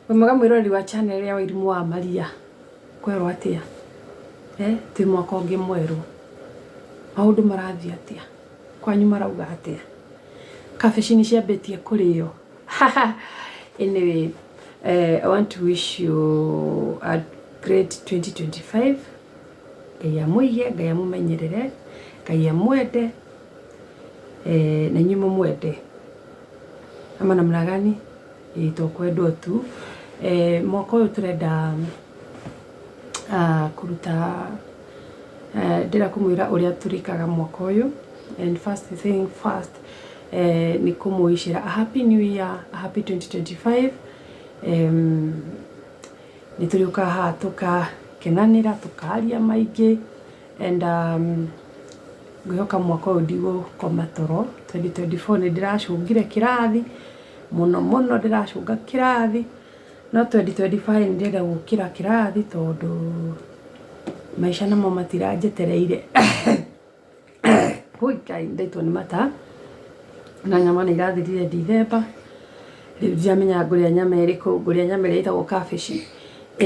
Wĩ mwega mwĩroreri wa channel ya Wairimũ wa Maria, kwerwo atĩa? Eh, twĩ mwaka ũngĩ mwerũ, maũndũ marathiĩ atĩa? Kwanyu marauga atĩa? Kabici nĩ ciambĩtie kũrĩo? Anyway, eh, I want to wish you a great 2025. Ngai amũige, Ngai amũmenyerere, Ngai amwende, eh, na inyuĩ mũmwende. Ama namna gani? Ĩĩ to kwendwo tu. Eh, mwaka ũyũ tũrenda ah, kũruta eh, ndĩra kũmwĩra ũrĩa tũrĩkaga mwaka ũyũ and first thing first eh, nĩ kũmũicĩra a happy new year a happy 2025 em, nĩ tũrĩũkaga haha tũkakenanĩra tũkaria maingĩ And ngwĩhoka mwaka ũyũ ndigũkoma toro, twenty twenty four nĩ ndĩracũngire kĩrathi, mũno mũno ndĩracũnga kĩrathi, no twenty twenty five nĩ ndĩrenda gũkĩra kĩrathi tondũ maica namo matiranjetereire. Wũi Ngai nĩ ndaitwo nĩ mata, na nyama nĩ irathirire ndithemba, rĩu ndiramenya ngũrĩa nyama ĩrĩkũ, ngũrĩa nyama ĩrĩa ĩtagwo kabici,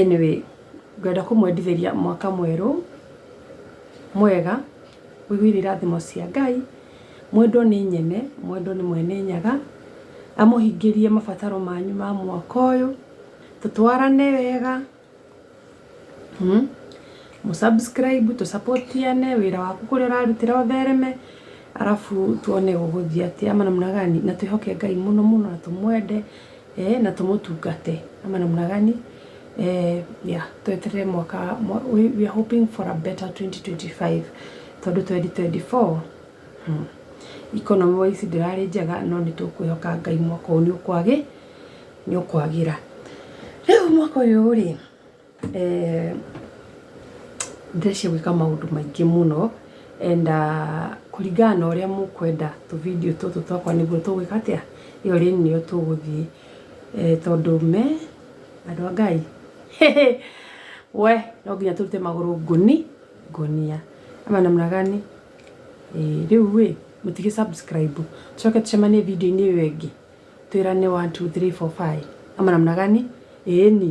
anyway. Ngwenda kũmwendithĩria mwaka mwerũ mwega ũihũire irathimo cia Ngai, mwendwo nĩ Nyene, mwendwo nĩ Mwene Nyaga, amũhingĩrie mabataro manyu ma mwaka ũyũ, tũtwarane wega, mũ subscribe, tũ support ane, wĩra waku kũrĩa ũrarutĩra ũthereme, arabu tuone ũgũthiĩ atĩa, maana namna gani, na twĩhoke Ngai mũno mũno na tũmwende. eh, na tumutungate ama namna gani eh, yeah, tweterere mwaka mwa- we, we are hoping for a better 2025 tondu 2024 hmm. economy wise ndirarĩ njega no nĩ tũkwĩhoka ngai mwaka ũyũ nĩ ũkwagĩ nĩ ũkwagĩra rĩu mwaka ũyũ rĩ Eh, ndirĩ cia gwĩka maũndũ maingĩ mũno and ah, kũringana na ũrĩa mũkwenda tũvindio tũtũ twakwa nĩguo tũgwĩka atĩa ĩyo rĩni nĩyo tũgũthiĩ Eh, tondũ me andũ a ngai we no nginya tũrute magũrũ ngũni ngũnia ama namna gani Eh, rĩu ĩ mũtige subscribe coke tũcemanie video-inĩ ĩyo ĩngĩ twĩrane 1 2 3 4 5 ama namna gani ĩni